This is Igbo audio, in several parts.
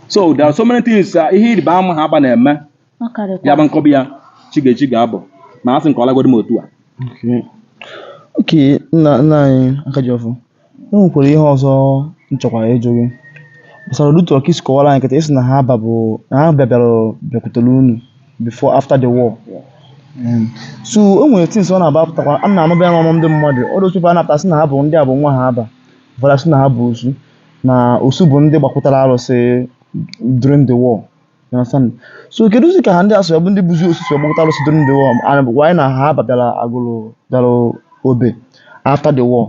so there are so many things uh, ihe ịrịba ama Haaba na-eme ọ karịkwa ya bụ m kọba ya chi ga-eji chi ga-abọ ma a sị nke ọ lagodi m otu a Okay. Okay, nna nna anyị Akajiọfọ, e nwekwara ihe ọzọ m chọkwara ịjụ gị gbasara otu ị ka si kọwara anyị kịta ị sị na Haaba bụ na Haaba bịara bịakwutere unu before after the war. Mm. so o nwere things ọ na-aba apụtakwa a na-anụba ya n'ọnụ ndị mmadụ ọ dị otu ebe a na-apụta sị na ha bụ ndị a bụ nwa Haaba ụfọdụ sị na ha bụ osu na osu bụ ndị gbakwụtara arụsị during the war You understand? so kedụzi ka ha ndị a sị ya bụ ndị bụzi osu si gbakwụta arụsị during the war and ị gwakwa anyị na Haaba bịara Agụlụ bịara Obe after the war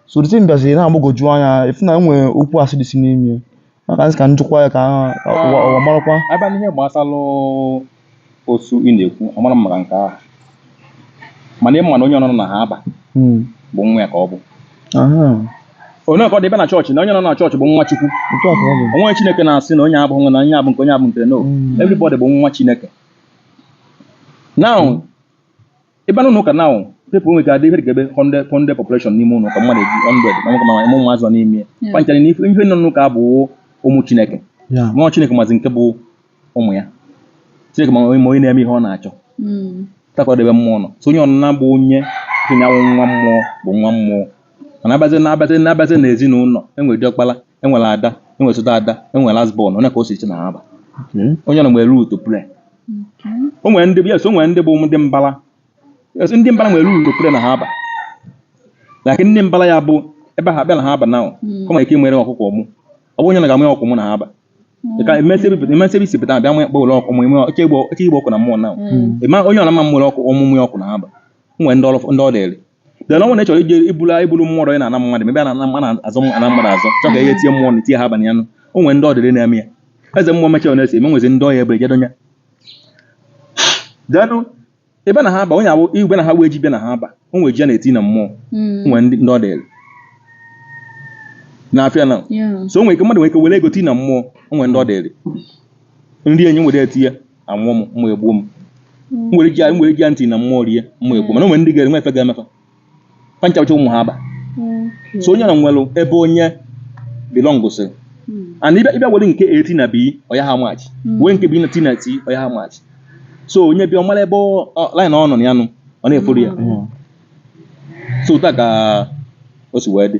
so the thing bịaziri na-agbagwoju anya ị fụ na e nwere okwu asị dịsi n'ime ya maka m sị ka m jụkwa ya ka ha- ka ụwa ụwa marakwa a bịa n'ihe gbasara osu ị na-ekwu amarọ m maka nke ahụ mana ị ma na onye ọnụna nọ na Haaba hmm. bụ nwa ya ka ọ bụ onye ka ọ dị ị baa na chọọchị na onye ọnụna nọ na chọọchị bụ nwa Chukwu o nwee ihe Chineke na-asị na onye a bụ nwa na onye a bụ nke onye a bụ nke no hmm. everybody bụ nwa Chineke now ị baa n'ụka na people nwere adị ihe dị ka ebe konde konde population n'ime ụlọ ka mmadụ eji hundred ma nwoke ma ụmụ ụmụazị nọ n'ime ya ha ncha niile nọ n'ụka bụ ụmụ chineke ọ bụ chineke mazi nke bụ ụmụ ya chineke ma onye na-eme ihe ọ na-achọ hmm. otu a ka ọ dị ebe mmụọ nọ so onye ọnụna bụ onye tinyanwụ nwa mmụọ bụ nwa mmụọ mana abazi na abazi na abazi na ezinụlọ e nwere diọkpala e nwere ada e nwere osote ada e nwere last born ọ ya ka o si dị na Haaba onye ọnụna nwere role to play o nwere ndị yes o nwere ndị bụ ndị mbara yes ndị mbara nwere role to play na Haaba like ndị mbara ya bụ ebe ha bịa na Haaba na ọ nwere ike nwere ọkụkọ mụ ọ bụ onye na ga-amụ ọkụ mụ na Haaba ka e mesịa isi pụta bịa mụ kpọwere ọkụ mụ ime oke igbo ọkụ na mmụọ na ịma onye ọla mma mmụrụ ọkụ ọmụmụ ya ọkụ na Haaba o nwere ndị ọrụ ndị ọ dịrị then ọ nwere chọrọ ije ibulu ibulu mmụọ ọdọ ị na-ana mmadụ ebe a na-ana mmadụ azụ ana mmadụ azụ chọ ka ihe tie mmụọ na tie ha abalị anụ o nwere ndị ọ dịrị na-eme ya eze mmụọ mecha ọ na-esi eme nwezi ndị ọya ebe ejedo ya denụ ebe na Haaba onye awụ igwe na ha wee ji bịa na Haaba o nwere ji a na-eti na mmụọ Mm. o nwere ndị ndị ọ dịrị na-afịa ya Yeah. so o nwere ike mmadụ nwere ike were ego ti na mmụọ o nwere ndị ọ dịrị nri enyi nwere eti ya anwụọ m mma egbuo m m nwere ike m nwere ike ya ntị na mmụọ rie mma egbuo mana o nwere ndị ga-eri nwa efe ga-eme fa ncha cha ụmụ Haaba Okay. so onye ọnụna nwere ebe onye belong gụsịrị Mm. and ị bịa ị bịa were nke A ti na B ọ yaha match Mm. wee nke B na ti na T ọ yaha match so onye bịa ọ mara ebe ọ- ọ- line ọ nọ na ya nụ ọ na-efollow ya so otu a ka o si wee dị